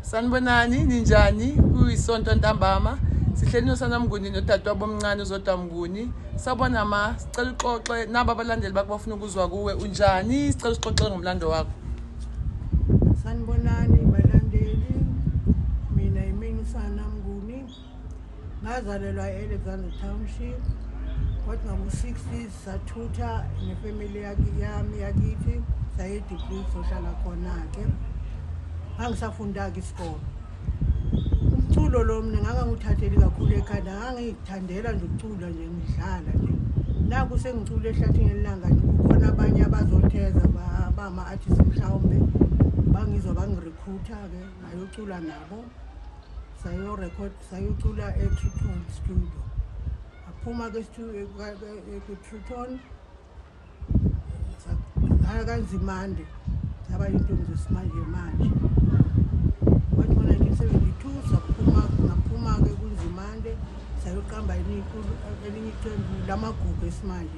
sanibonani ninjani kuyisonto ntambama sihleli nosana mnguni nodadewabo omncane uzodwa mnguni sabona ma sicela uxoxe nabo abalandeli bakho bafuna ukuzwa kuwe unjani sicela usixoxe ngomlando wakho sanibonani ngazalelwa e-alexander township kodwa ngo-60s sathutha nefamily yami yakithi sayedegree sohlala khona-ke ngangisafunda-ke isikolo umculo lo mina ngangangiwuthatheli kakhulu ekhanda ngangiyithandela nje ukucula nje ngidlala nje naku sengicula ehlathini elilanga kukhona abanye abazotheza bama-artist mhlawumbe bangizwa bangirekhutha-ke ngayocula nabo sayo record sayocula e Triton studio aphuma ke ku Triton saya kanzimande saba intombi zesimanje manje wathi ngo 1972 saphuma ngaphuma ke kunzimande sayoqamba elinye iqembu lamagugu esimanje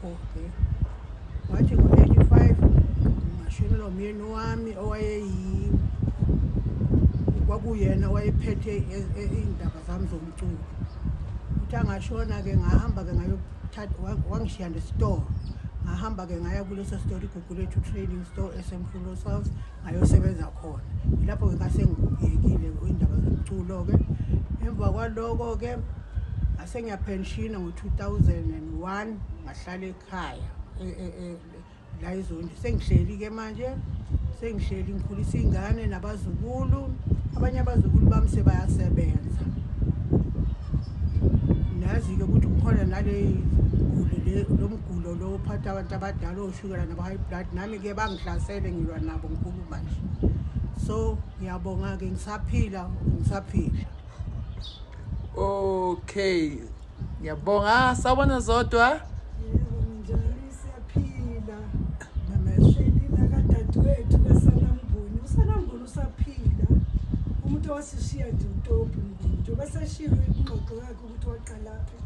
Okay. Wathi ngo-85 ngashonelwa umyeni wami owayeyi kwakuyena owayephethe e- e- iy'ndaba zami zomculo uthi angashona-ke ngahamba-ke ngayothatha wa- wangishiya nesitolo ngahamba-ke ngaya kuleso sitolo igugu lethu trading store esemfulo south ayosebenza khona ilapho ke kasengiyekile indaba zomculo ke emva kwaloko ke asengiyapenshina ngo-2001 ngahlala ekhaya e, e, e, la izondi sengihleli ke manje sengihleli ngikhulisa iy'ngane nabazukulu abanye abazukulu bami sebayasebenza nazi-ke ukuthi kukhona nale guli lo mgulo lo ophatha abantu abadala oshukela nabo-high blood nami ke bangihlasele ngilwa nabo nkulu manje so ngiyabonga ke ngisaphila ngisaphila okay ngiyabonga sawubona zodwa umuntu owasishiya nje utopi nje basashilo ingxoxo yakhe ukuthi waqalaphi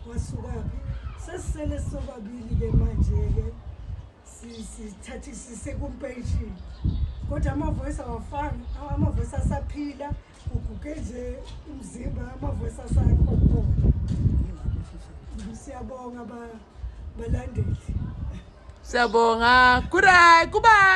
wasukaphi sesisele sobabili-ke manje-ke sithathisise kumpeshini kodwa amavoice awafani amavoice asaphila uguge nje umzimba amavoice asakho khona siyabonga balandeli siyabonga kuray kubayi